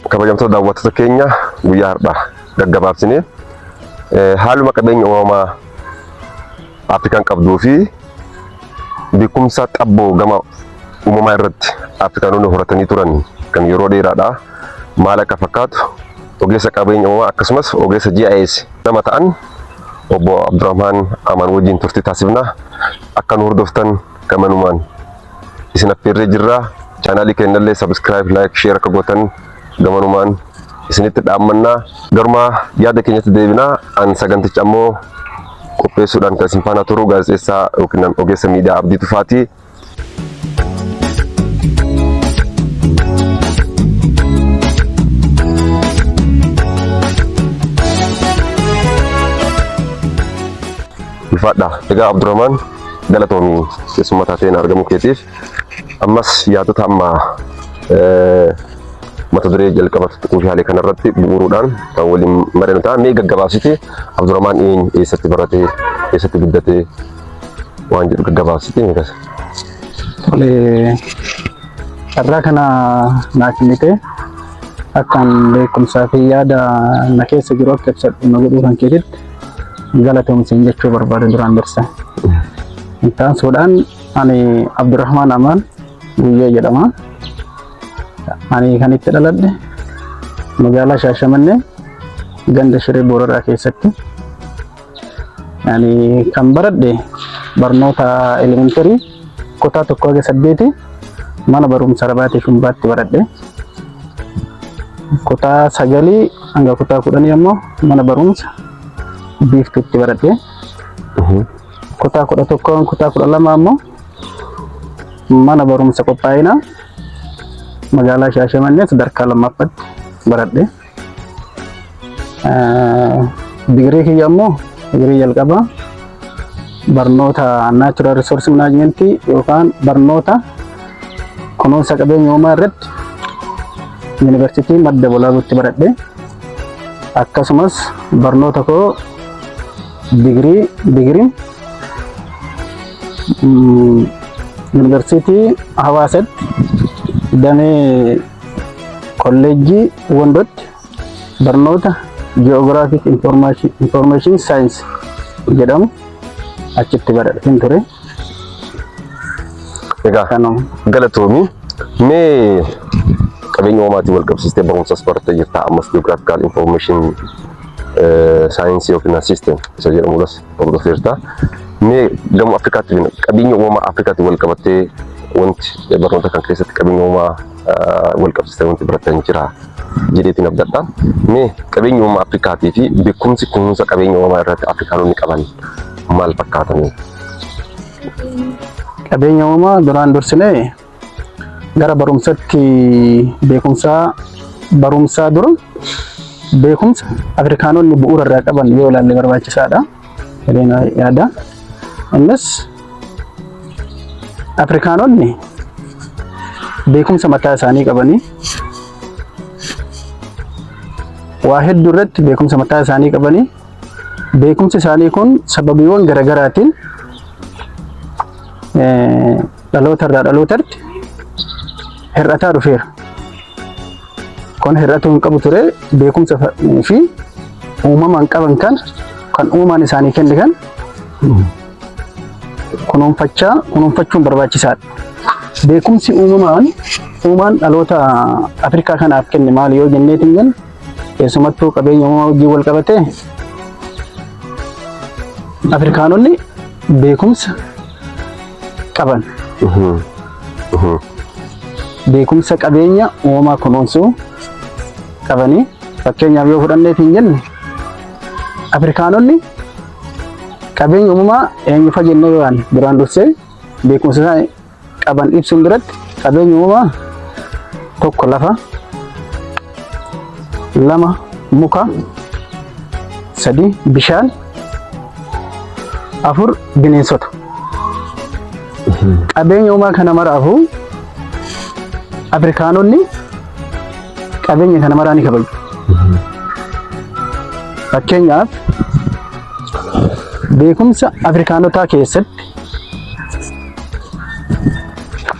kabajamtoota daawwattoota keenya guyyaa har'aa gaggabaabsinee eh, haaluma qabeenya uumamaa Afrikaan qabduu fi beekumsa xabboo gama uumamaa irratti Afrikaanonni horatanii turan kan yeroo dheeraadha maal akka fakkaatu ogeessa qabeenya uumamaa akkasumas ogeessa GIS nama ta'an obbo Abdurrahmaan Amaan wajjin turtii taasifna Akka nu hordoftan gamanumaan isin affeerree jirra. Chaanaalii keenyallee subscribe, like, share akka gootan gamanumaan isinitti dhaammanna. Garumaa yaada keenyatti deebina. An saganticha ammoo qopheessuudhaan kan isin faana turu gaazexeessaa yookiin ogeessa miidiyaa Abdii Tufaati. Ulfaadha. Egaa Abdurrahmaan galatoomi keessummaa taateen argamuu keetiif. Ammas yaadota amma eh, mata duree jalqaba kuushaalee kanarratti bu'uuruudhaan kan waliin mari'annu ta'a. Mee gaggabaabsite Abdurrahmaan eenyu eessatti barate eessatti guddate waan jedhu gaggabaabsite ni kasa. Tole carraa kana naa kennite akkaan beekumsaa fi yaada na keessa jiru akka ibsadhu na godhuu kan keetitti galatoom siin jechuu barbaada duraan dursa. Intaan suudhaan ani Abdurrahmaan Amaan Guyyee jedhama. Ani kan itti dhaladhe magaalaa Shaashamannee ganda Shiree Booraraa keessatti. Ani kan baradhe barnoota elementarii kutaa tokko haga saddeeti mana barumsa Rabaatee Shumbaatti baradhe. Kutaa sagalii hanga kutaa kudhanii ammoo mana barumsa Biiftuutti baradhe. Kutaa kudha tokko kutaa kudha lama ammoo mana barumsa qophaa'inaa magaalaa Shaashamannee sadarkaa lammaffaatti baradhe. Digirii kiyya ammoo digirii jalqabaa barnoota naachuraal riisoorsi manaajimentii yookaan barnoota kunuunsa qabeenya uumaa irratti yuunivarsiitii madda walaabuutti baradhe akkasumas barnoota koo digirii digiriin yuunivarsiitii hawaasatti damee Kolleejjii Wondootti barnoota Geographic Information, Information Science jedhamu achitti baradheen ture. Egaa Kanuma. galatoomii mee qabeenya uumaatiin wal qabsiistee barumsas barattee jirta ammas geographical information saayinsii yookiin system isa jedhamuudhas hordofeerta. Mee gama Afrikaatti jenna qabeenya uumamaa Afrikaatti wal qabattee wanti barnoota kan keessatti qabeenya uumamaa wal qabsiisee wanti baratan jira jedheetiin abdadha. Mee qabeenya uumamaa Afrikaatii fi beekumsi kunuunsa qabeenya uumamaa irratti Afrikaanonni qaban maal fakkaatanii? Qabeenya uumamaa duraan dursinee Gara barumsatti beekumsaa barumsaa dura beekumsa Afrikaanonni bu'uura irraa qaban yoo ilaalle barbaachisaadha. Jedheen yaada. Innis Afrikaanonni beekumsa mataa isaanii qabanii waa hedduu irratti beekumsa mataa isaanii qabanii beekumsi isaanii kun sababiiwwan garaagaraatiin dhaloota irraa dhalootatti hir'ataa dhufeera. Kun hir'atuu hin qabu ture beekumsa fi uumamaan qaban kan kan uumaan isaanii kenne kan kunuunfachaa kunuunfachuun barbaachisaadha. Beekumsi uumamaan uumaan dhaloota Afrikaa kanaaf kenne maali yoo jenneetiin jennu Keessumattuu qabeenya uumamaa wajjin wal qabatee Afrikaanonni beekumsa qaban. Beekumsa qabeenya uumamaa kunuunsuu qabanii fakkeenyaaf yoo fudhanneef hin jenne Afrikaanonni qabeenya uumamaa eenyufa jennee yoo yaadne duraan dursee beekumsa isaa qaban ibsuun biratti qabeenya uumamaa tokko lafa, lama muka, sadii bishaan, afur bineensota. Qabeenya uumaa kana maraafuu Afrikaanonni qabeenya kana maraa ni kabaju. Fakkeenyaaf beekumsa Afrikaanotaa keessatti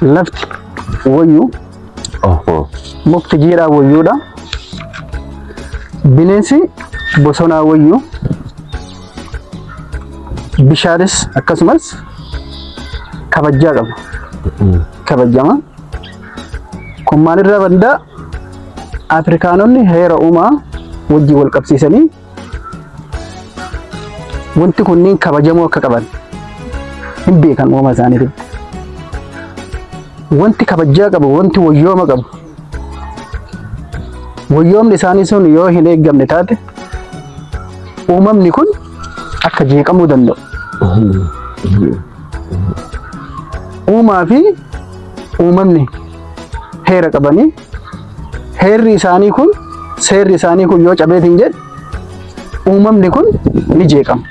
Lafti wayyuu Oho. mukti jiidhaa wayyuudha. Bineensi bosonaa wayyuu. Bishaanis akkasumas kabajaa qaba. Kabajama. Kun maalirraa madda? Afrikaanonni heera uumaa wajjin wal qabsiisanii Wanti kunniin kabajamuu akka qaban hin beekan uumama isaaniitiin. Wanti kabajaa qabu, wanti wayyooma qabu. Wayyoomni isaanii sun yoo hin eeggamne taate uumamni kun akka jeeqamuu danda'u. Uumaa fi uumamni heera qabanii Heerri isaanii kun seerri isaanii kun yoo cabeetiin jedhe uumamni kun ni jeeqama.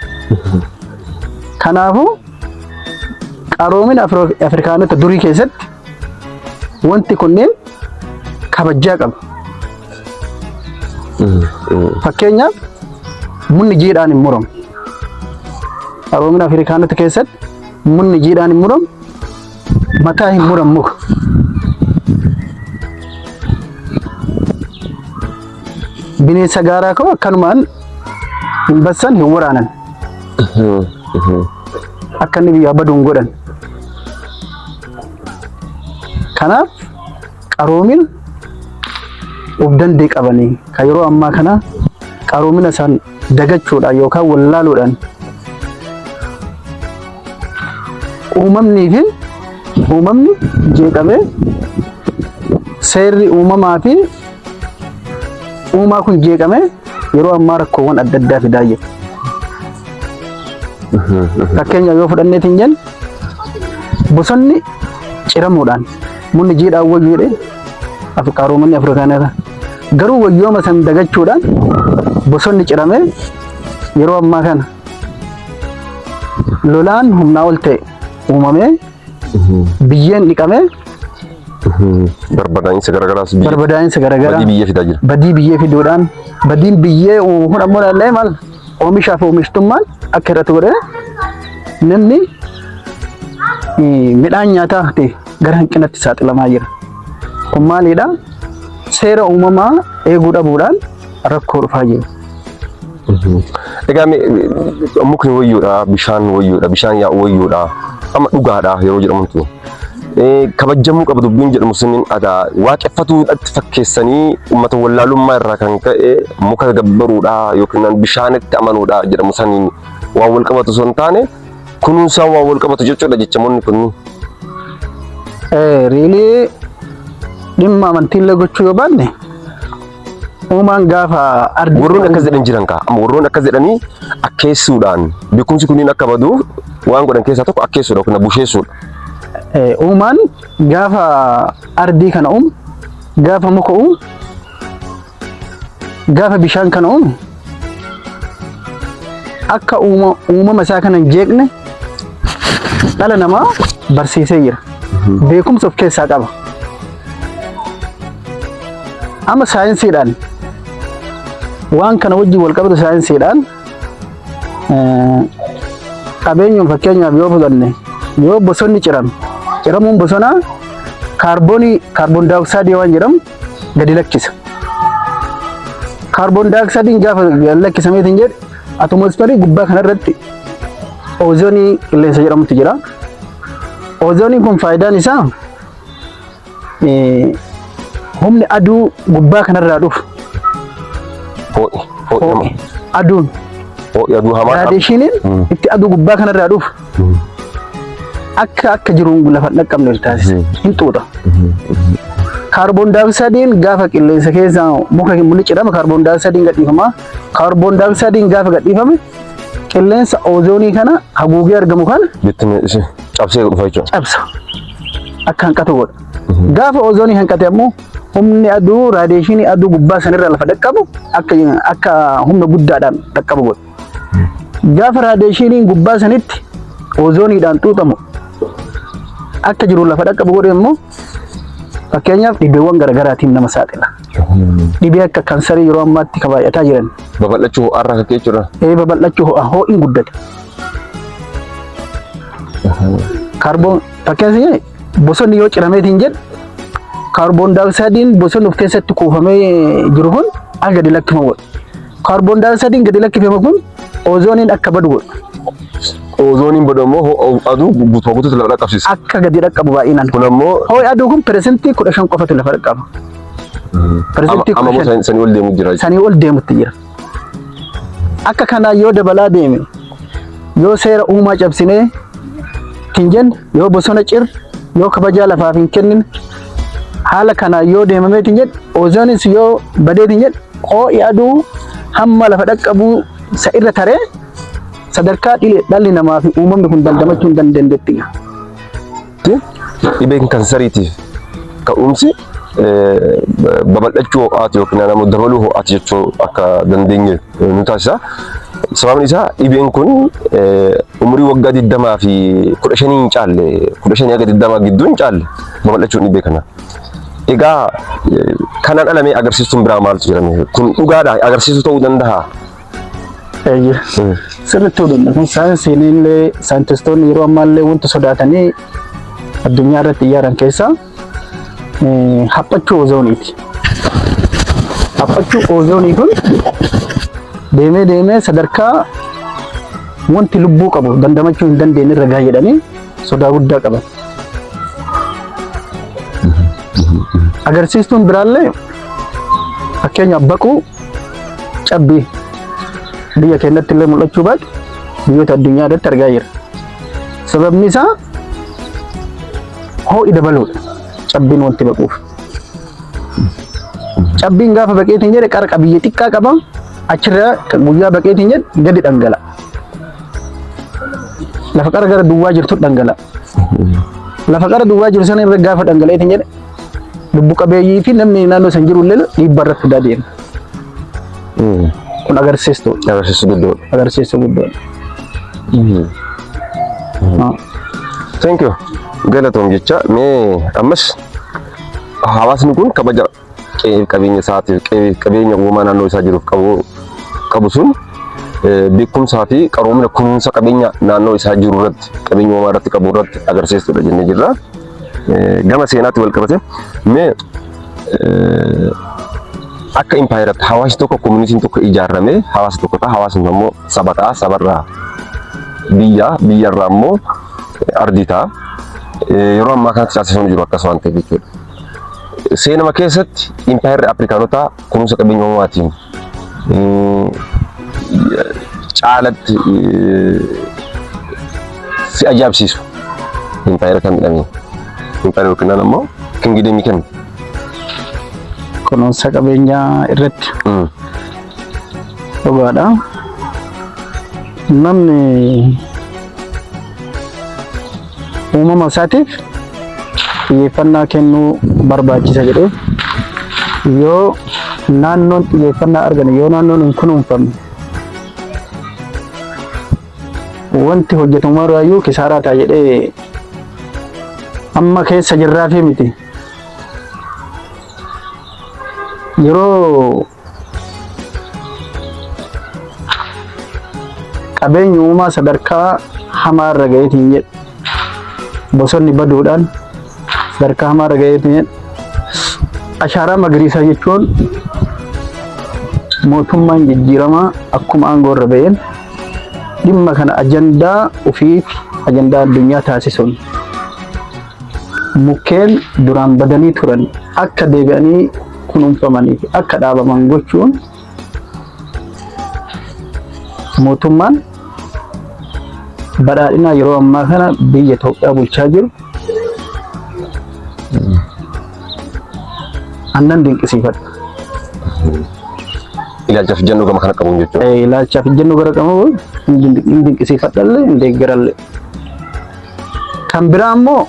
Kanaafuu qaroomina Afri- Afrikaanota durii keessatti wanti kunneen kabajaa qabu. Fakkeenyaaf munni jiidhaan hin muramu. Qaroomina Afrikaanota keessatti munni jiidhaan hin muramu. Mataa hin muran muka. Bineensa gaaraa koo akkanumaan hin bassan hin waraanan. Akka inni biyyaa badu hin godhan. Kanaaf qaroomin of dandee qabanii kan yeroo ammaa kana qaroomina isaan dagachuudhaan yookaan wallaaluudhaan uumamnii fi uumamni jeeqamee seerri uumamaa fi uumaa kun jeeqamee yeroo ammaa rakkoowwan adda addaa fidaa jiru. Fakkeenyaaf yoo fudhanneeti hin jennu bosonni ciramuudhaan munni jiidhaan wayyu jedhee Qaaroomanni Afrikaanota garuu wayyooma san dagachuudhaan bosonni ciramee yeroo ammaa kana lolaan humnaa ol ta'e uumamee biyyeen dhiqamee Barbadaa'insa garagaraas biyya barbadaa'insa garaagaraa badii biyya fidaa jira. badii biyyee fiduudhaan badiin biyyee uumu kun ammoo laallee maal Oomishaa fi oomishtummaan akka irratti godhe namni midhaan nyaataa ta'e gara hanqinatti saaxilamaa jira. Kun maalidha? Seera uumamaa eeguu dhabuudhaan rakkoo dhufaa jira. Egaa mukni wayyuudha, bishaan wayyuudha, bishaan yaa'u wayyuudha. Amma dhugaadha yeroo jedhamutti. kabajjamuu qaba dubbiin jedhamu suniin adaa waaqeffatuudhaatti fakkeessanii uummata wallaalummaa irraa kan ka'e muka gabbaruudha yookiin bishaanitti amanuudha jedhamu saniin waan wal qabatu osoo hin taane kunuunsaan waan wal qabatu jechuudha jechamoonni kunniin. Riilii dhimma amantiillee gochuu yoo baanne Uumaan gaafa ardi warroon akkas jedhan jiran kaa amma warroon akkas jedhanii akkeessuudhaan beekumsi kunniin akka badu waan godhan keessaa tokko akkeessuudha yookiin busheessuudha. Eh, uumaan gaafa ardii kana uumu gaafa muka uumu gaafa bishaan kana uumu akka uuma- uumama isaa kana hin jeeqne dhala namaa barsiisee jira. Beekumsa of keessaa qaba. Amma saayinsiidhaan waan kana wajjin wal qabatu saayinsiidhaan eh, qabeenyuun fakkeenyaaf yoo fudhanne yoo bosonni cirame ciramuun bosonaa kaarboonii kaarboon daayoksaayidii waan jedhamu gadi lakkisa. Kaarboon daayoksaayidiin gaafa lakkisameetiin jedhe atomoosferii gubbaa kanarratti oozoonii qilleensa jedhamutu jira. Oozooniin kun faayidaan isaa eh, humni aduu gubbaa kanarraa dhufu Hoo'i. Hoo'i. aduun Hoo'i aduu hamaa. raadeeshiniin itti aduu gubbaa kanarraa dhufu akka akka jiruun lafa hin dhaqqabne ol taasisa. Hin xuuxa. Kaarboon daayoksaayidiin gaafa qilleensa keessaa muka hin mul'atu jedhama. Kaarboon daayoksaayidiin gadhiifama. Kaarboon daayoksaayidiin gaafa gadhiifame qilleensa oozoonii kana haguugee argamu kana Bittinni ishee cabsee dhufa jechuudha. cabsa. Akka hanqatu godha. Gaafa oozoonii hanqate ammoo humni aduu raadiyeeshinii aduu gubbaa sanirra lafa dhaqqabu akka akka humna guddaadhaan dhaqqabu godha. Gaafa raadiyeeshiniin gubbaa sanitti oozooniidhaan xuuxamu akka jiru lafa dhaqqabu godhe immoo fakkeenyaaf dhibeewwan garaagaraatiin nama saaxila. Dhibee akka kansarii yeroo ammaatti kan baay'ataa jiran. Babal'achuu ho'aarraa akka ka'e jechuudha. Ee babal'achuu ho'a ho'iin guddate. Kaarboon fakkeenyaaf Bosonni yoo ciramee hin jedhu kaarboon daayoksaayidiin bosonni of keessatti kuufamee jiru kun akka gadi lakkifamu godha. Kaarboon daayoksaayidiin gadi lakkifame kun oozooniin akka badu godha. Oozooniin badu ammoo ho'a aduu guutumaa guutuutti lafa dhaqqabsiisa. Akka gadi dhaqqabu baay'inaan. Kun ammoo Ho'i aduu kun piresentii kudha shan qofatu lafa dhaqqaba. Piresentii amma kudha shan sanii ol deemu jira. sanii ol deemutti jira. Akka kanaa yoo dabalaa deeme yoo seera uumaa cabsinee hin jenne yoo bosona cir yoo kabajaa lafaaf hin kennine haala kanaa yoo deemamee hin jedhe oozoonis yoo badee hin jedhe hoo'i aduu hamma lafa dhaqqabuu isa irra taree sadarkaa dhile dhalli namaa fi uumamni kun dandamachuu hin dandeenyetti. Dhibeen kansariitiif ka'umsi babal'achuu ho'aati yookiin ammoo dabaluu ho'aati jechuu akka dandeenye nu taasisa. Sababni isaa dhibeen kun umurii waggaa 20 fi 15 hin caalle 15 haga 20 gidduu hin caalle babal'achuun dhibee kana. Egaa kanaan alamee agarsiistuun biraa maaltu jedhame kun dhugaadha agarsiisuu ta'uu danda'a. Eeyyee. Sirriitti hudhanna. Kun saayinsiin illee saayintistoonni yeroo ammaa illee wanti sodaatanii addunyaa irratti iyyaaran keessaa eh, haphachuu oozooniiti. Haphachuu oozoonii kun deemee deemee sadarkaa wanti lubbuu qabu dandamachuu hin dandeenye irra gaha jedhanii sodaa guddaa qaban. Agarsiistuun biraallee Fakkeenyaaf baquu cabbii biyya keenyatti illee mul'achuu baate biyyoota addunyaa irratti argaa jira. Sababni isaa hoo'i dabaluudha. Cabbiin wanti baquuf. Cabbiin gaafa baqeetiin jedhe qara qabiyyee xiqqaa qaba. Achirra guyyaa baqeetiin jedhe gadi dhangala'a. Lafa qara gara duwwaa jirtu dhangala'a. Lafa qara duwwaa jiru sana irra gaafa dhangala'eetiin jedhe lubbu qabeeyyii fi namni naannoo san jiru illee dhiibbaa irratti fidaa deema. Kun agarsiistuu Agarsiisu guddoo. agarsiistuu guddoodha. Thank you. Galatoom jecha mee ammas hawaasni kun kabaja qe'ee qabeenya isaatiif qe'ee qabeenya uumamaa naannoo isaa jiruuf qabu qabu sun eh, beekumsaa fi qaroomina kunuunsa qabeenya naannoo isaa jiru irratti qabeenya uumamaa irratti qabu irratti agarsiistudha jennee jirra. gama seenaatti wal qabate mee akka impaayeratti hawaasi tokko koominitiin tokko ijaarame hawaasa tokko ta'a hawaasni immoo saba ta'a sabarraa biyya biyyarraa immoo ardii ta'a yeroo ammaa kanatti taasifamu jiru akkas waan ta'eef jechuudha. Seenama keessatti impaayerri Afrikaanotaa kunuunsa qabeenya uumamaatiin caalatti si ajaa'ibsiisu impaayera kan midhamee impaayera yookiin ammoo kingideemii kan kunuunsa qabeenyaa irratti dhugaadha. Namni uumama isaatiif xiyyeeffannaa kennuu barbaachisa jedhee yoo naannoon xiyyeeffannaa argame yoo naannoon hin kunuunfamne wanti hojjetamu irraayyuu kisaaraa ta'a jedhee amma keessa jirraafii miti yeroo Qabeenyi uumaa sadarkaa hamaa irra ga'eetiin jedhu. Bosonni baduudhaan sadarkaa hamaa irra ga'eetiin jedhu. Ashaaraa magariisaa jechuun mootummaan jijjiiramaa akkuma aangoo irra ba'een dhimma kana ajandaa ofii fi ajandaa addunyaa taasisuun mukkeen duraan badanii turan akka deebi'anii kunuunfamanii fi akka dhaabaman gochuun mootummaan badhaadhinaa yeroo ammaa kana biyya Itoophiyaa bulchaa jiru annan dinqisiifadha. Ilaalchaaf ijjannoo gama kana qabuun jechuudha. Eh, Ilaalchaaf ijjannoo gara qabu hin dinqi- hin dinqisiifadhallee hin deeggarallee. Kan biraa immoo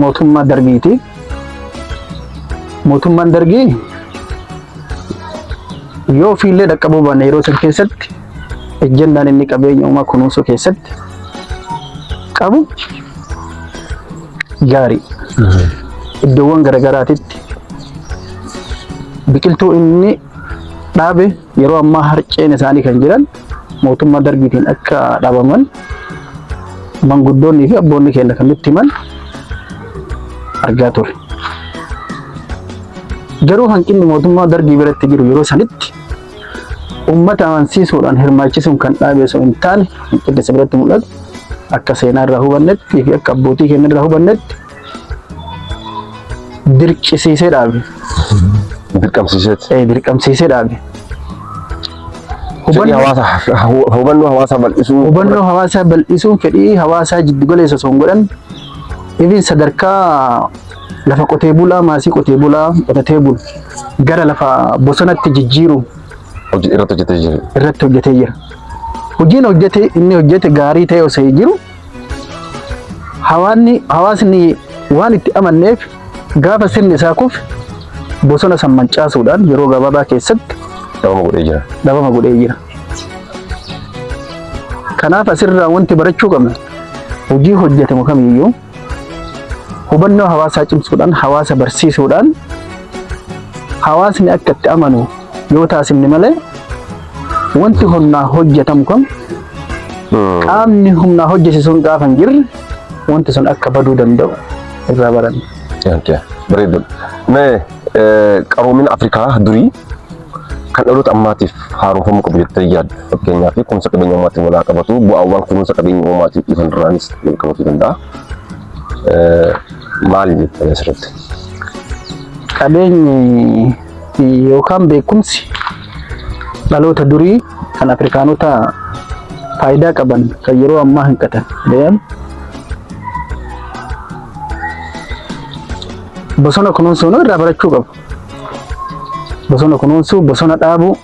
mootummaa darbiitiif Mootummaan Dargii yoo ofiillee dhaqqabuu baanne yeroo san keessatti ejjennaan inni qabeenya uumaa kunuunsuu keessatti qabu gaarii iddoowwan garaagaraatitti biqiltuu inni dhaabe yeroo ammaa harceen isaanii kan jiran mootummaa dargiitiin akka dhabaman manguddoonnii fi abboonni keenya kan nutti himan argaa ture. Garuu hanqinni mootummaa dargii biratti jiru yeroo sanitti uummata amansiisuudhaan hirmaachisuun kan dhaabe osoo hin taane hanqinni isa biratti mul'atu akka seenaa irraa hubannetti fi akka abbootii keenya irraa hubannetti Dirqisiisee dhaabe. Dirqamsiiseet. Eh, Dirqamsiisee dhaabe. Fedhii Hubannoo hawaasaa hu- hubannoo hawaasaa bal'isuu. hubannoo hawaasaa bal'isuun fedhii hawaasaa jiddu galeessa osoo hin godhan even sadarkaa lafa qotee bulaa maasii qotee bulaa qotatee bulu gara lafa bosonatti jijjiiruun Hojii irratti hojjetee jiru. irratti hojjetee jira. Hojiin hojjete inni hojjete gaarii ta'e osoo jiru Hawaanni hawaasni waan itti amanneef gaafa sirni isaa kufe bosona san mancaasuudhaan yeroo gabaabaa keessatti Dhabama godhee jira. dhabama godhee jira. Kanaaf asirraa wanti barachuu qabnu hojii hojjetamu kamiyyuu hubannoo hawaasaa cimsuudhaan hawaasa barsiisuudhaan hawaasni akka itti amanu yoo taasifne malee wanti humnaa hojjetamu kun qaamni humnaa hojjete sun gaafa hin jirre wanti sun akka baduu danda'u irraa baranna. Okay. Bareedu. Mee eh, qaroomina Afrikaa durii kan dhaloota ammaatiif haaromfamuu qabu jettee yaaddu. Fakkeenyaaf kunuunsa qabeenya uumaatiin walaa qabatu bu'aawwan kunuunsa qabeenya uumaatiin dhufan irraanis wal qabatuu danda'a. Eh, Maali jettee asirratti? Qabeenyi yookaan beekumsi dhaloota durii kan Afrikaanota faayidaa qaban kan yeroo ammaa hanqatan deeman bosona kunuunsuun irraa barachuu qabu. Bosona kunuunsuu, bosona dhaabuu,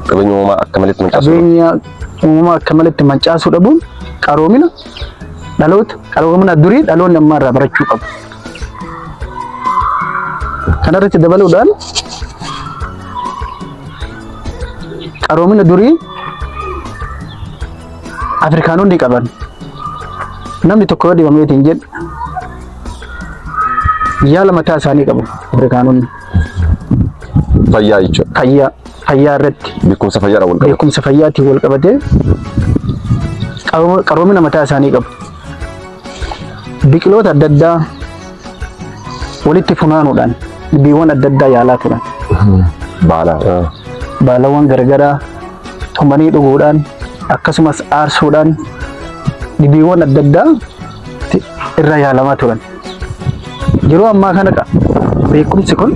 Qabeenya uumamaa akka malitti mancaasuu. qabeenya uumamaa akka malitti mancaasuu dhabuun qaroomina dhaloota qaroomina durii dhaloonni ammaa irraa barachuu qabu. Kanarratti dabaluudhaan qaroomina durii Afrikaanonni qaban namni tokko yoo dhibamee ittiin jedhu yaala mataa isaanii qabu Afrikaanonni Fayyaa jechuudha. fayyaa fayyaa irratti Beekumsa fayyaadhaan wal qabatu. beekumsa fayyaatiin wal qabatee qaroomina mataa isaanii qabu. Biqiloota adda addaa walitti funaanuudhaan dhibeewwan adda addaa yaalaa turan. Baala. Baalawwan garagaraa tumanii dhuguudhaan akkasumas aarsuudhaan dhibeewwan adda addaa ti- irra yaalamaa turan. Yeroo ammaa kana qa- beekumsi kun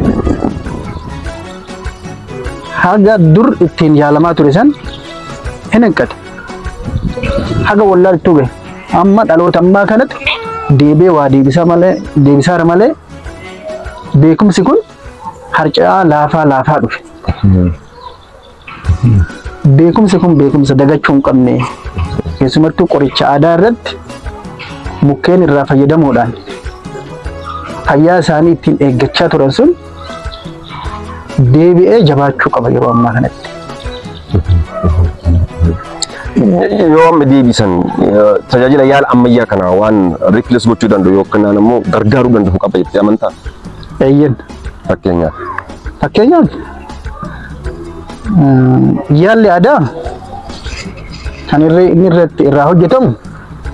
haga dur ittiin yaalamaa ture san hin hanqate. haga wallaaltuu gahe amma dhaloota ammaa kanatti deebee waa deebisaa malee deebisaara malee beekumsi kun harca'aa laafaa laafaa dhufe. Beekumsi kun beekumsa dagachuu hin qabne keessumattuu qoricha aadaa irratti mukkeen irraa fayyadamuudhaan fayyaa isaanii ittiin eeggachaa turan sun deebi'ee jabaachuu qaba yeroo ammaa kanatti. Yoo amma deebisan tajaajila yaala ammayyaa kana waan riipilees gochuu danda'u yookiin ammoo gargaaruu danda'u qaba jettee amantaa? Eeyyen. Fakkeenyaaf. Fakkeenyaaf yaalli aadaa kan inni irratti irraa hojjetamu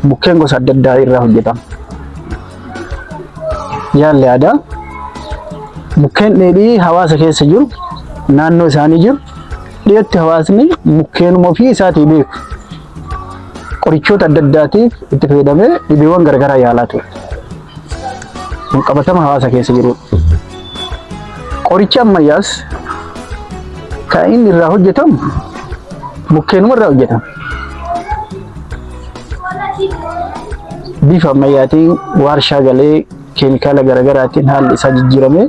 mukkeen gosa adda addaa irraa hojjetama. Yaalli aadaa mukkeen dheedhii hawaasa keessa jiru naannoo isaanii jiru dhiyootti hawaasni mukkeenuma ofii isaatii beeku qorichoota adda addaatiif itti fayyadamee dhibeewwan garagaraa yaalaa ture. Kun qabatama hawaasa keessa jirudha. Qorichi ammayyaas kan inni irraa hojjetamu mukkeenuma irraa hojjetama. bifa ammayyaatiin waarshaa galee keemikaala garaagaraatiin haalli isaa jijjiiramee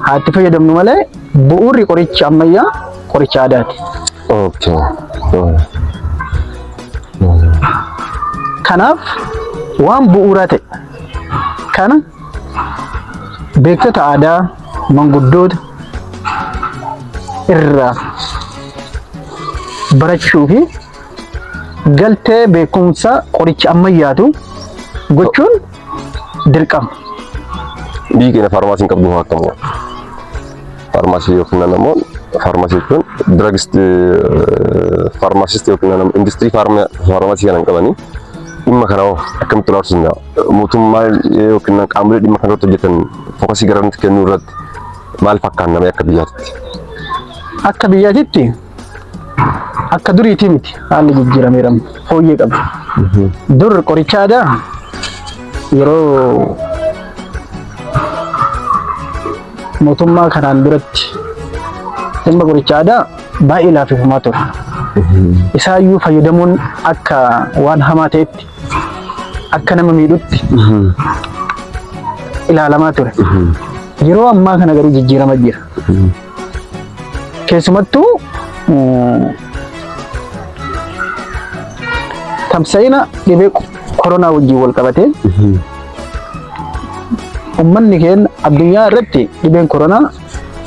haa itti fayyadamnu malee bu'uurri qoricha ammayyaa qoricha aadaati. Okay. Kanaaf waan bu'uuraa ta'e kana beektota aadaa manguddoota irraa barachuu fi galtee beekumsa qoricha ammayyaatu gochuun dirqama. Biyyi keenya faarmaasii hin qabdu hoo akkam godha? Faarmaasii yoo kennan ammoo faarmaasii jechuun diragist faarmaasist yoo kennan ammoo industirii faarmaasii kana hin qabanii dhimma kana hoo akkamitti ilaaluu danda'a? Mootummaa yoo kennan qaamolee dhimma kana irratti hojjetan fookasii gara nuti kennuu irratti maal fakkaannamee akka biyyaatti? Akka biyyaatitti Akka duriitii miti haalli jijjiirameera fooyyee qaba. Dur qoricha aadaa yeroo mootummaa kanaan duratti dhimma qoricha aadaa baay'ee laaffifamaa ture. Isaayyuu fayyadamuun akka waan hamaa ta'etti akka nama miidhutti ilaalamaa ture. Yeroo ammaa kana garuu jijjiirama jira. Keessumattuu tamsa'ina dhibee koronaa wajjin wal qabatee ummanni keenya addunyaa irratti dhibeen koronaa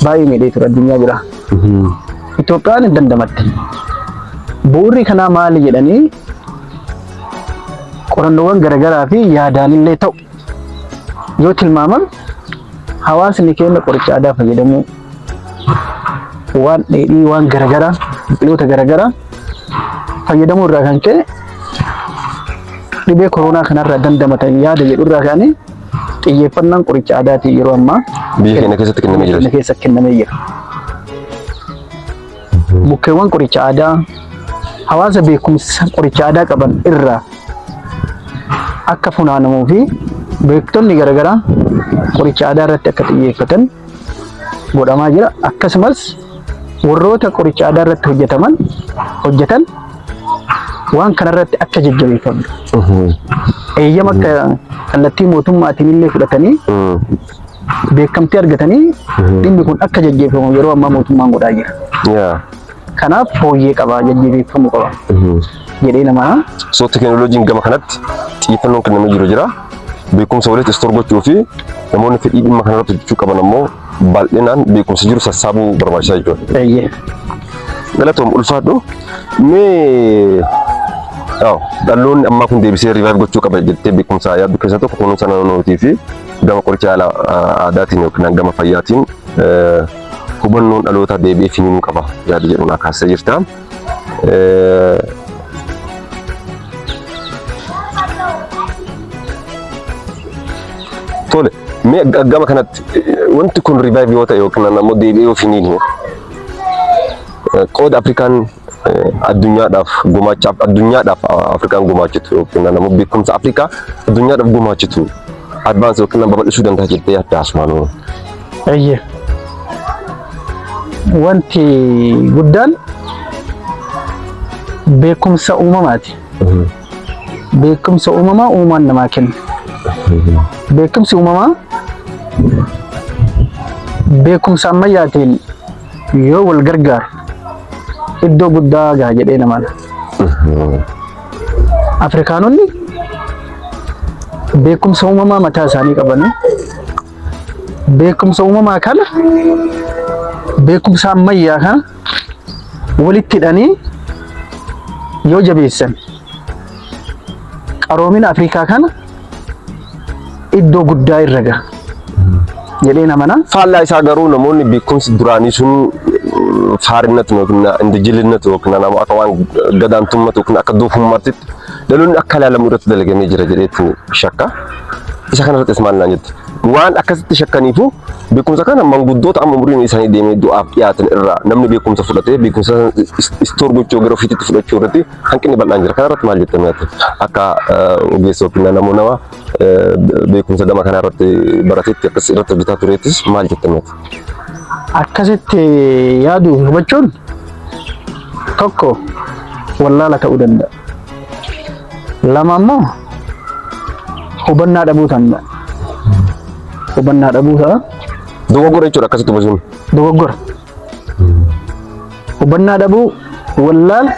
baay'ee miidhee ture addunyaa biraa. Itoophiyaan hin dandamatti. Bu'uurri kanaa maali jedhanii qorannoowwan garaagaraa fi yaadaanillee ta'u yoo tilmaaman hawaasni keenya qoricha aadaa fayyadamuu waan dheedhii waan garagaraa biqiloota garagaraa fayyadamuu irraa kan ka'e dhibee koronaa kanarraa dandamatan yaada jedhu irraa ka'anii xiyyeeffannaan qoricha aadaatiin yeroo ammaa biyya keenya keessatti kennamee jira. keessa kennamee jira. Mukkeewwan qoricha aadaa hawaasa beekumsa qoricha aadaa qaban irraa akka funaanamuu fi beektonni garaagaraa qoricha aadaa irratti akka xiyyeeffatan godhamaa jira. Akkasumas warroota qoricha aadaa irratti hojjetaman hojjetan waan kanarratti akka jajjabeeffamu eeyyama akka kallattii mootummaatiin illee fudhatanii beekamtii argatanii dhimmi kun akka jajjeeffamu yeroo ammaa mootummaan godhaa jira. Yaa. Kanaaf fooyyee qaba jajjeeffamu qaba jedhee namaa So tekinooloojiin gama kanatti xiyyeeffannoon kennamee jiru jira. Beekumsa walitti istoor gochuu fi namoonni fedhii dhimma kanarratti hojjechuu qaban ammoo baay'inaan beekumsa jiru sassaabuu barbaachisaa jechuudha. eeyyee. Galatoom ulfaadhu. Mee dhaloonni ammaa kun deebisee riivaayiv gochuu qaba jettee beekumsa yaaddu keessaa tokko kunuunsa naannootii fi Gama qoricha haala aadaatiin yookiin gama fayyaatiin hubannoon dhaloota deebi'ee finiinuu qaba yaada jedhu naa kaasee jirta. Tole, mee gama kanatti wanti kun rivaayivii yoo ta'e yookiin ammoo deebi'ee yoo finiinuu Qooda Afrikaan addunyaadhaaf gumaachaaf addunyaadhaaf Afrikaan gumaachitu yookiin ammoo beekumsa Afrikaa addunyaadhaaf gumaachitu advaansi yookiin ammoo babal'isuu danda'a jettee yaadda Asmaanoo. Eeyyee. Wanti guddaan beekumsa uumamaati. Beekumsa uumamaa uumaan namaa kenna. Beekumsi uumamaa beekumsa ammayyaatiin yoo wal gargaar iddoo guddaa gaha jedhee namaan. Afrikaanonni beekumsa uumamaa mataa isaanii qabanii beekumsa uumamaa kana beekumsa ammayyaa kana walitti hidhanii yoo jabeessan qaroomina Afrikaa kana iddoo guddaa irra gaha jedhee namana. Faallaa isaa garuu namoonni beekumsi duraanii sun faarinnatu yookiin indijilinnatu yookiin nama akka waan gadaantummatu yookiin akka doofummaatti dhaloonni akka ilaalamu irratti dalagamee jira jedheetti shakka. Isa kanarrattis maal naan jettu? Waan akkasitti shakkaniifu beekumsa kana manguddoota amma umriin isaanii deemee du'aaf dhiyaatan irraa namni beekumsa fudhatee beekumsa istoor gochuu gara ofiitti fudhachuu irratti hanqinni bal'aan jira. Kana irratti maal jettee mi'aatti? Akka ogeessa yookiin nama nama beekumsa gama kana irratti baratetti akkas irratti hojjetaa tureettis maal jettee mi'aatti? Akkasitti yaadu hubachuun tokko wallaala ta'uu danda'a. Lama immoo hubannaa dhabuu danda'a. Hubannaa dhabuu ta'a. Dogoggora jechuudha akkasitti hubachuun. Dogoggora. hubannaa dhabuu wallaal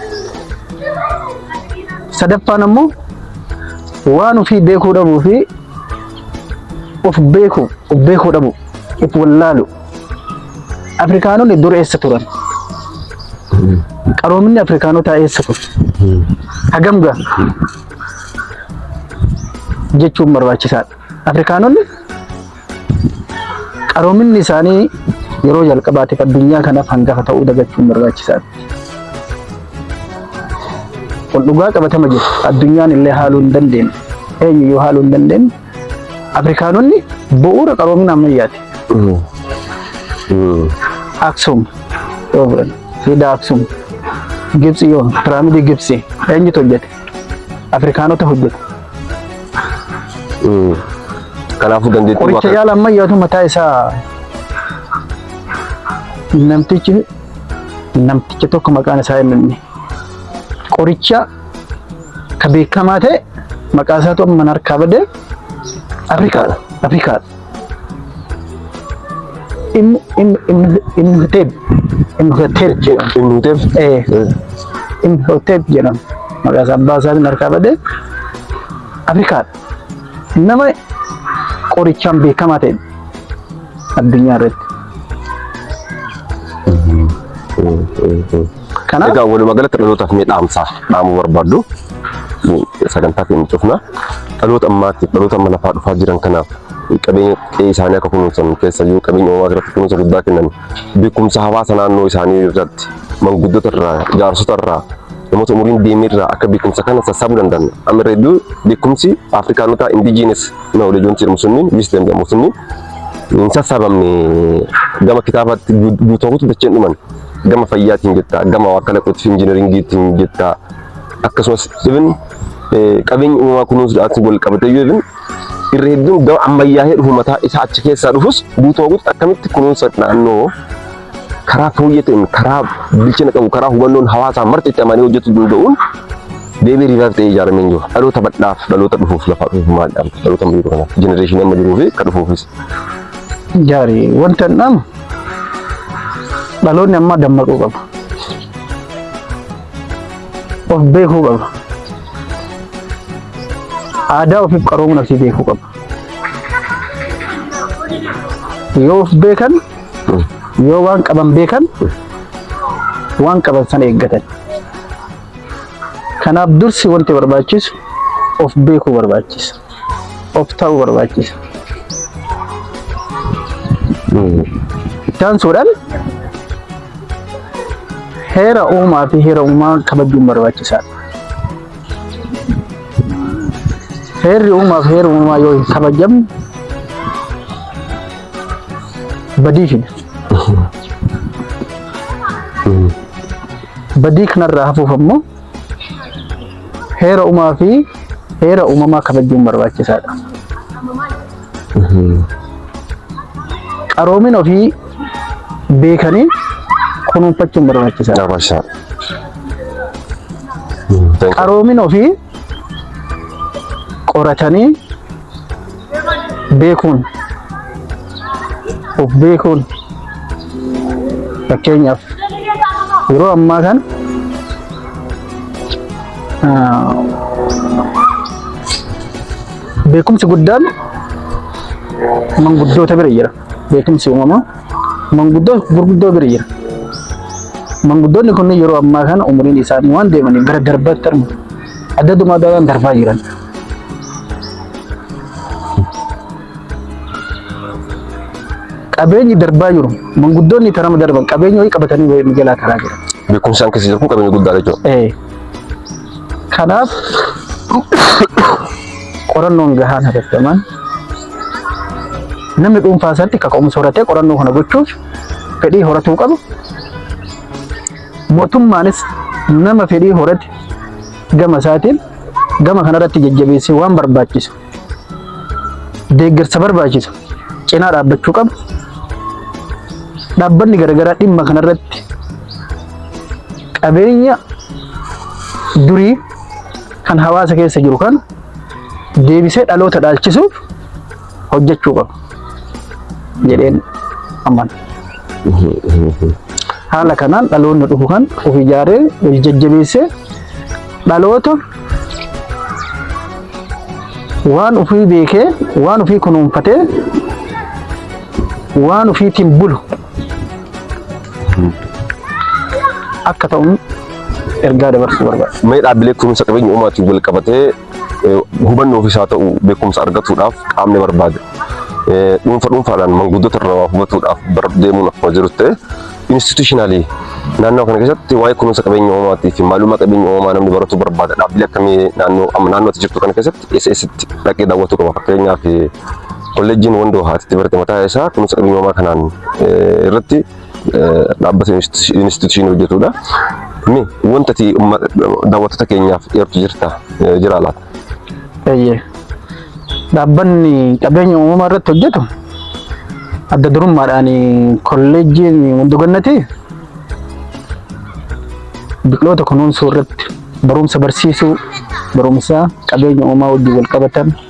sadaffaan ammoo waan ofii beekuu dhabuu fi of beeku of beekuu dhabu of wallaalu afrikaanonni dur eessa turan qaroominni afrikaanotaa eessa ture hagam gaa jechuun barbaachisaadha afrikaanonni Qaroominni isaanii yeroo jalqabaatiif addunyaa kanaaf hangafa ta'uu dagachuun barbaachisaadha. Kun dhugaa qabatama jiru. Addunyaan illee haaluu hin dandeenye. Eenyuyyuu haaluu hin dandeenye. Afrikaanonni bu'uura qaroomina ammayyaati. Aksum yoo fudhanne, Siidaa Aksum, Gibsi yoo, Piraamidii Gibsi eenyutu hojjete? Afrikaanota hojjetu. Mm. Kanaafuu dandeettii Qoricha waaqaa- yaala ammayyaatu mataa isaa namtichi namticha tokko maqaan isaa hin himne. Qoricha ka beekamaa ta'e maqaa isaatu amma harkaa badee Afrikaadha. Afrikaadha. Im im im imhotep imhotep jedhama. Imhotep. Eh imhotep jedhama. Maqaa isaa abbaa isaatiin harkaa badee Afrikaadha. Nama qorichaan beekamaa ta'e addunyaa irratti. Kana Egaa walumaa galatti dhalootaaf mee dhaamsaa dhaamuu barbaaddu sagantaa keenya cufna dhaloota ammaatti dhaloota amma lafaa dhufaa jiran kanaaf qabeenya qe'ee isaanii akka kunuunsan keessayyuu qabeenya uumaa irratti kunuunsa guddaa kennan beekumsa hawaasa naannoo isaanii irratti manguddota irraa jaarsota irraa namoota umuriin deemee irraa akka beekumsa kana sassaabuu danda'an amma irra hedduu beekumsi afrikaanotaa indijiinis knowledge wanti jedhamu sunniin wisdom jedhamu sunniin hin sassaabamne gama kitaabaatti guutuu dacheen dhuman gama fayyaatiin jetta, gama waa kalaquutti injinariingiitiin jetta, akkasumas even qabeenyi uumamaa kunuunsuudhaan wal qabatee yoo even irra hedduun gama ammayyaa'ee dhufu mataa isaa achi keessaa dhufus guutuma guututti akkamitti kunuunsa naannoo karaa fooyyee ta'een karaa bilchina qabu karaa hubannoon hawaasaa marti itti amanee hojjetu danda'uun deebii riivaaf ta'ee ijaaramee hin jiru. Dhaloota badhaaf dhaloota dhufuuf lafaa dhufuuf maal dhaamta? Dhaloota amma jiru kanaaf jenereeshinii amma jiruu fi akka dhufuufis. Gaarii wanta hin dhaamu Dhaloonni ammaa dammaquu qaba. Of beekuu qaba. Aadaa ofiif qaroomuun asii beekuu qaba. Yoo of beekan, yoo waan qaban beekan, waan qaban sana eeggatan. Kanaaf dursi wanti barbaachisu of beekuu barbaachisa. of ta'uu barbaachisa. Itti aansuudhaan heera uumaa fi heera uumaa kabajuun barbaachisaadha. Heerri uumaa fi heera uumaa yoo hin kabajamne badii fida. Badii kanarraa hafuuf ammoo Heera uumaa fi heera uumamaa kabajuun barbaachisaadha. Qaroomin ofii beekanii kunuunfachuun barbaachisaadha. Dabarshaa. Qaroomin ofii qoratanii beekuun of beekuun fakkeenyaaf yeroo ammaa kan beekumsi guddaan manguddoota bira jira beekumsi uumamaa manguddoo gurguddoo bira jira manguddoonni kunniin yeroo ammaa kana umuriin isaanii waan deemaniif gara darbaatti argamu adda dumaa darbaa jiran Qabeenyi darbaa jiru manguddoonni tarama darban qabeenya wayii qabatanii wayii mijalaa karaa jira. Beekumsaan keessa jiru kun qabeenya guddaadha jechuudha. Eh, Kanaaf qorannoon gahaan hatattamaan namni dhuunfaa isaatti kaka'umsa horatee qorannoo kana gochuuf fedhii horatuu qabu. Mootummaanis nama fedhii horate gama isaatiin gama kanarratti jajjabeessee waan barbaachisu deeggarsa barbaachisu cinaa dhaabbachuu qabu. Dhaabbanni garaagaraa dhimma kanarratti qabeenya durii kan hawaasa keessa jiru kan deebisee dhaloota dhaalchisuuf hojjechuu qabu jedheen amana. Haala kanaan dhaloonni dhufu kan of ijaaree of jajjabeessee dhaloota waan ofii beekee waan ofii kunuunfatee waan ofiitiin bulu akka ta'uun ergaa dabarsuu barbaada. Mee dhaabbilee kunuunsa qabeenya uumaatiin wal qabatee hubannoo ofiis haa ta'u beekumsa argatuudhaaf qaamni barbaade dhuunfa dhuunfaadhaan manguddota irraa waa hubatuudhaaf bar deemuun akkuma jiru ta'e institutionally naannoo kana keessatti waa'ee kunuunsa qabeenya uumamaatii fi maalummaa qabeenya uumamaa namni baratu barbaada dhaabbilee akkamii naannoo amma naannootti jirtu kana keessatti SStti dhaqee daawwatu qaba fakkeenyaaf kolleejjiin wandoo haatitti barte mataa isaa kunuunsa qabeenya uumamaa kanaan irratti dhaabbata institushiin hojjetudha. Ni wanta ati daawwattoota keenyaaf eertu jirta jira laata? Eeyyee. Dhaabbanni qabeenya uumamaa irratti hojjetu adda durummaadhaan kolleejjiin Wandogannati biqiloota kunuunsuu irratti barumsa barsiisuu barumsa qabeenya uumaa wajjin wal qabatan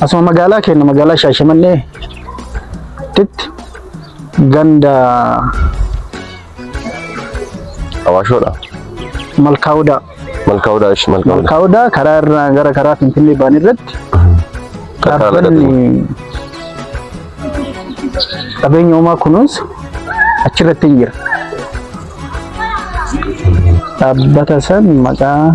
Asuma magaalaa keenya magaalaa Shaashamannee titti ganda Awaashoodha. Malkaawudaa. Malkaawudaa ishi malkaawudaa. Malkaawudaa karaa irraa gara karaa Finfinnee ba'an irratti dhaabbanni qabeenya uumaa kunuunsu achirratti hin jira. Dhaabbata san maqaa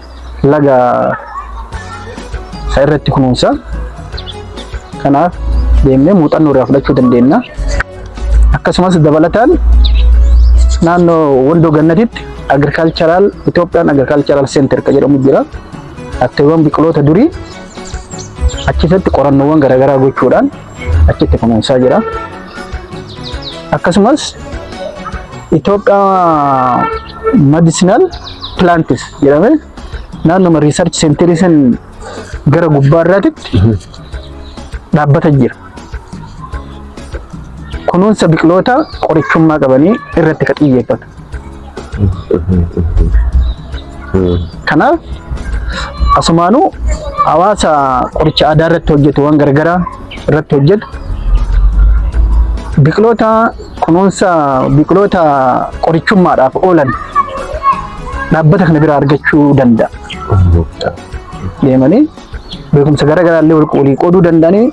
laga isa irratti kunuunsa. Kanaaf deemnee muuxannoo irraa fudhachuu dandeenya. Akkasumas dabalataan naannoo Wondoo Gannatitti agricultural Itoophiyaan agricultural center kan jedhamu jira. Atteewwan biqiloota durii achi keessatti qorannoowwan garaagaraa gochuudhaan achitti kunuunsaa jira. Akkasumas Itoophiyaa Medicinal Plants jedhamee naannoma Research Center san gara gubbaa irraatitti dhaabbata jira. Kunuunsa biqiloota qorichummaa qabanii irratti ka xiyyeeffatu. Kanaaf asumaanuu hawaasa qoricha aadaa irratti hojjetu waan gargaraa irratti hojjetu biqiloota kunuunsa biqiloota qorichummaadhaaf oolan dhaabbata kana biraa argachuu danda'a. Deemanii beekumsa gara garaallee wal walii qooduu danda'anii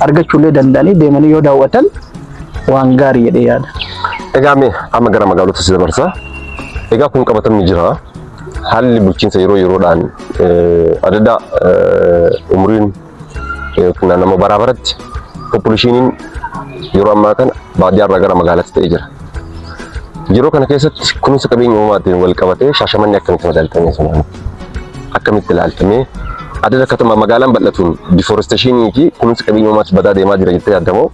argachuullee danda'anii deemanii yoo daawwatan waan gaarii jedhee yaada. Egaa mee amma gara magaalota si dabarsa. Egaa kun qabatamni jira. Haalli bulchiinsa yeroo yeroodhaan adda umriin yookiin nama baraa baratti populeshiniin yeroo ammaa kana baadiyyaarraa gara magaalaatti ta'ee jira. Yeroo kana keessatti kunuunsa qabeenya uumaatiin wal qabatee shaashamanni akkamitti madaaltanii sun? akkamitti ilaalta mee? Adada katama magaalaan bal'atuun difooresteeshinii fi kunuunsi qabeenya uumaatti badaa deemaa jira jettee yaadda moo?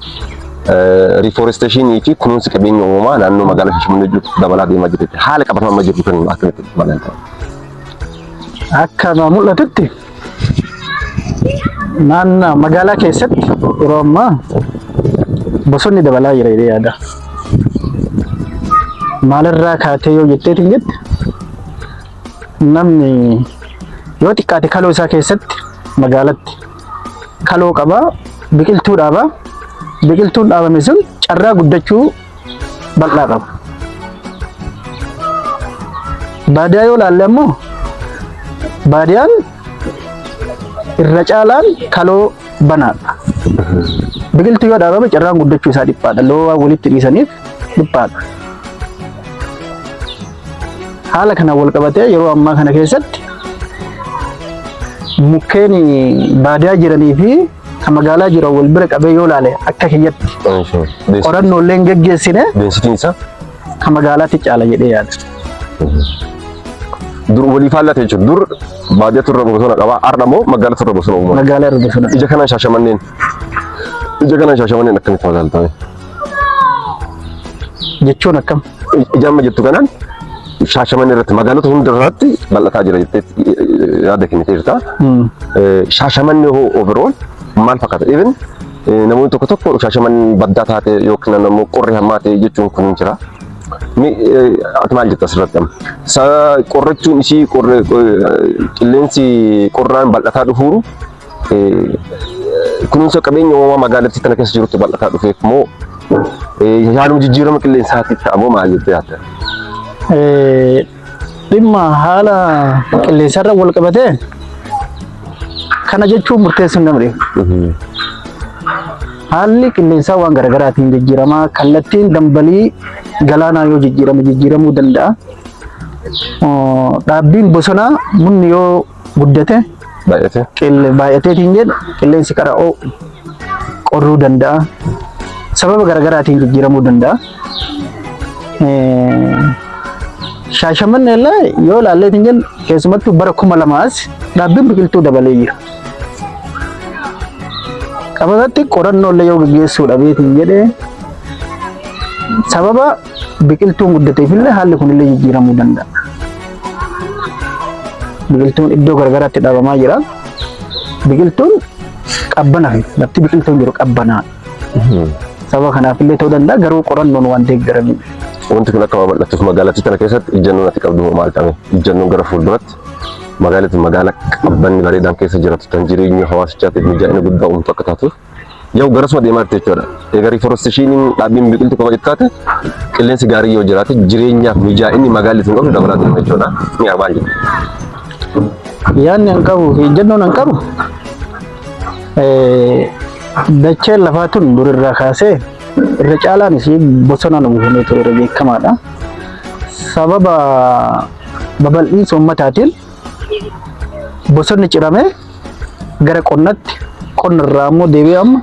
Rifooresteeshinii fi kunuunsi qabeenya uumaa naannoo magaalaa Finfinnee jiru dabalaa deemaa jira jettee haala qabatamaa amma jiru kan akkamitti ilaalta? Akka na mul'atutti naannoo magaalaa keessatti yeroo ammaa bosonni dabalaa jira jedhee yaada. Maalirraa kaatee yoo jetteetiin jette Namni yoo xiqqaate kaloo isaa keessatti magaalatti kaloo qaba biqiltuu dhaaba. Biqiltuun dhaabame sun carraa guddachuu bal'aa qaba. Baadiyaa yoo laalle ammoo baadiyaan irra caalaan kaloo banaadha. Biqiltuu yoo dhaabame carraan guddachuu isaa dhiphaadha. Loowwan walitti dhiisaniif dhiphaadha. Haala kanaan walqabatee yeroo ammaa kana keessatti mukkeen baadiyaa jiranii fi kan magaalaa jiran wal bira qabee yoo ilaale akka kiyyatti qorannoo illee hin geggeessine deensitiin isaa kan magaalaatti caala jedhee yaada. dur walii faallaa ta'e jechuudha. Dur baadiyaa turre bosona qabaa har'a immoo magaalaa turre bosona uumama. Magaalaa irra bosona. Ija kanaan shaashamanneen ija kanaan shaashamanneen akkamitti magaalaa ta'e? Jechuun akkam? Ijaamma jettu kanaan shaashaman irratti magaalota hunda irratti bal'ataa jira jettee yaada kenniteerta. Shaashamanni hoo overall maal fakkaata? Even namoonni tokko tokko shaashaman baddaa taate yookiin ammoo qorri hammaate jechuun kun jira. Ati maal jetta asirratti amma? Qorrachuun ishii qilleensi qorraan bal'ataa dhufuuru kunuunsa qabeenya uumamaa magaalattii tana keessa jirutti bal'ataa dhufeef moo haaluma jijjiirama qilleensaatiif ta'a moo maal jettee yaadda? Dhimma haala qilleensarra wal qabatee kana jechuun murteessuu hin dandeenye. Haalli qilleensaa waan garaagaraatiin jijjiirama. Kallattiin dambalii galaanaa yoo jijjiirame jijjiiramuu danda'a. Dhaabbiin bosonaa munni yoo guddate Baay'atee. qille- baay'ateetiin jedhu qilleensi qara oo'u qorruu danda'a. Sababa garaagaraatiin jijjiiramuu danda'a. Eh, Shaashamanni illee yoo ilaalleetiin jennu keessumattuu bara kuma lamaas dhaabbiin biqiltuu dabalee jira. Qabatatti qorannoo illee yoo gaggeessuu dhabeetiin jedhee sababa Biqiltuun guddateef illee haalli kun illee jijjiiramuu danda'a. Biqiltuun iddoo garagaraatti dhabamaa jira. Biqiltuun qabbana fi lafti biqiltuun jiru qabbanaa. Sababa kanaaf illee ta'uu danda'a garuu qorannoon waan deeggaramudha. Wanti kun akka babal'atuuf magaalattii tana keessatti ijjannoon ati qabdu maal ta'e? Ijjannoon gara fuulduratti magaalatti magaala qabbanni bareedaan keessa jiraatu kan jireenya hawaasichaatiif mijaa'ina guddaa uumtu akka taatuuf Yoo garasuma deemaa jirti jechuudha. Egaa riiforesteshiiniin dhaabbiin biqiltuu qofa xiqqaate qilleensi gaarii yoo jiraate jireenyaaf mijaa'inni magaalli sun qabdu dabalaa deema jechuudha. Ni arbaan jedhu. Yaadni an qabu fi ejjennoon an qabu eh, dacheen lafaa tun durirraa kaasee irra caalaan isii bosonaan uwwifamee ture irra beekamaadha. Sababa babal'iinsa ummataatiin bosonni ciramee gara qonnatti qonna irraa immoo deebi'ee amma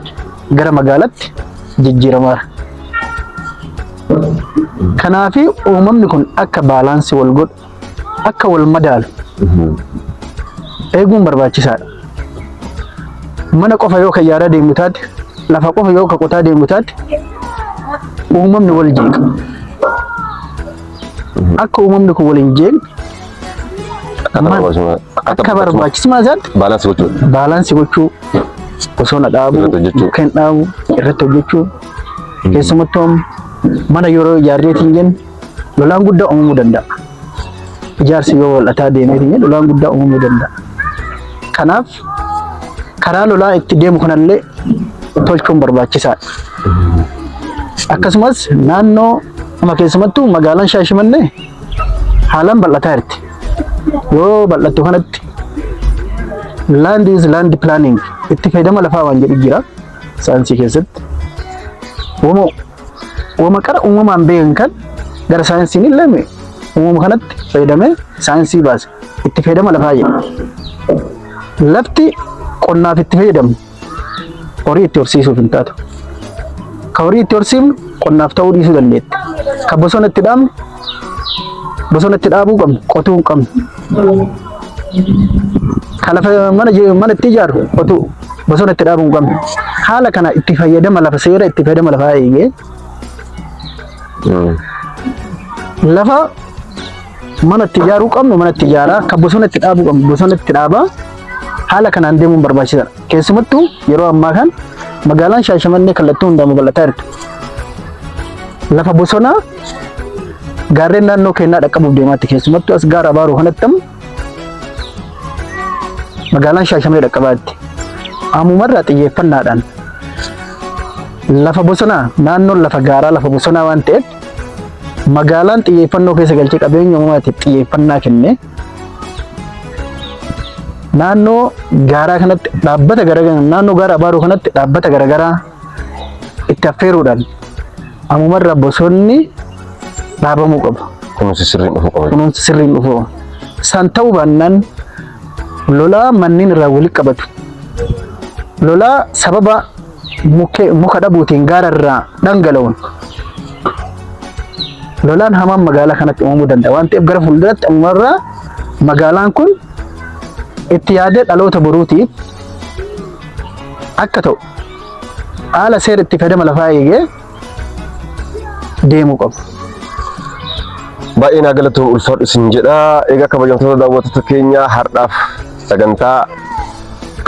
gara magaalatti jijjiiramaara. Kanaaf uumamni kun akka baalaansii wal godhu akka wal madaalu eeguun barbaachisaadha. Mana qofa yoo kan yaadaa deemu taate lafa qofa yoo kan qotaa deemu taate uumamni wal jeeqa. Akka uumamni kun wal hin jeeqne Akka barbaachisummaa isaatti baalaansi gochuu. Baalaansi gochuu osoo na dhaabuu kan dhaabu irratti hojjechuu hmm. keessumattuu mana yeroo ijaarreetiin jennu lolaan guddaa uumamuu danda'a. Ijaarsi yoo wal'ataa deemeetiin jennu lolaan guddaa uumamuu danda'a. Kanaaf karaa lolaa itti deemu kanallee tolchuun barbaachisaadha. Akkasumas naannoo amma keessumattuu magaalaan Shaashimannee haalaan bal'ataa jirti. Yoo bal'attu kanatti land is land planning itti fayyadama lafaa waan jedhu jira saayinsii keessatti. Uumoo Wama qara uumamaan beekan kan gara saayinsiin illee uumama kanatti fayyadamee saayinsii baase. Itti fayyadama lafaa jedha. Lafti qonnaaf itti fayyadamnu horii itti horsiisuuf hin taatu. Ka horii itti horsiifnu qonnaaf ta'uu dhiisuu dandeetti. Ka bosona itti dhaabnu Bosona itti dhaabuu qabnu, qotuu hin qabnu. Kan lafa mana je- mana itti ijaaru qotuu bosona itti dhaabuu hin qabnu. Haala kana itti fayyadama lafa seera itti fayyadama lafaa eegee lafa mana itti ijaaruu qabnu mana itti ijaaraa kan bosona itti dhaabuu qabnu bosona itti dhaabaa haala kanaan deemuun barbaachisaadha. Keessumattuu yeroo ammaa kan magaalaan Shaashamannee kallattii hundaa babal'ataa jirti. Lafa bosonaa gaarreen naannoo keenyaa dhaqqabuuf deemaatti keessumattuu as gaara abaaruu kanatti ammoo magaalaan shaashamee dhaqqabaatti ammumarraa xiyyeeffannaadhaan lafa bosonaa naannoon lafa gaaraa lafa bosonaa waan ta'eef magaalaan xiyyeeffannoo keessa galchee qabeenya uumamaatiif xiyyeeffannaa kennee naannoo gaaraa kanatti dhaabbata garaagaraa naannoo gaara abaaruu kanatti dhaabbata garaagaraa itti affeeruudhaan ammumarraa bosonni dhaabamuu qabu. Kunuunsi sirriin dhufuu qaba. Kunuunsi sirriin dhufuu qaba. San ta'uu baannaan lolaa manneen irraa walitti qabatu. Lolaa sababa muka dhabuutiin gaara irraa dhangala'uun lolaan hamaan magaalaa kanatti uumamuu danda'a waan ta'eef gara fuulduratti ammumarraa magaalaan kun itti yaadee dhaloota boruutiif akka ta'u haala seera itti fayyadama lafaa eegee deemuu qabu. Baay'ee naa galatoom ulfaadhu isin jedha. Egaa kabajamtoota daawwattoota keenya har'aaf sagantaa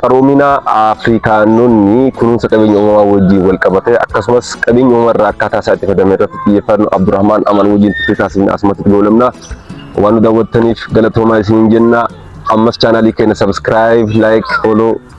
qaroomina Afrikaanonni kunuunsa qabeenya uumamaa wajjin wal qabate akkasumas qabeenya uumamaa irraa akkaataa isaa itti fayyadamne irratti xiyyeeffannu Abdurrahmaan Amaan wajjin turtii taasifne asumatti goolabna. Waan nu daawwattaniif galatoomaa isin jenna. Ammas chaanaalii keenya sabiskiraayib, laayik, fooloo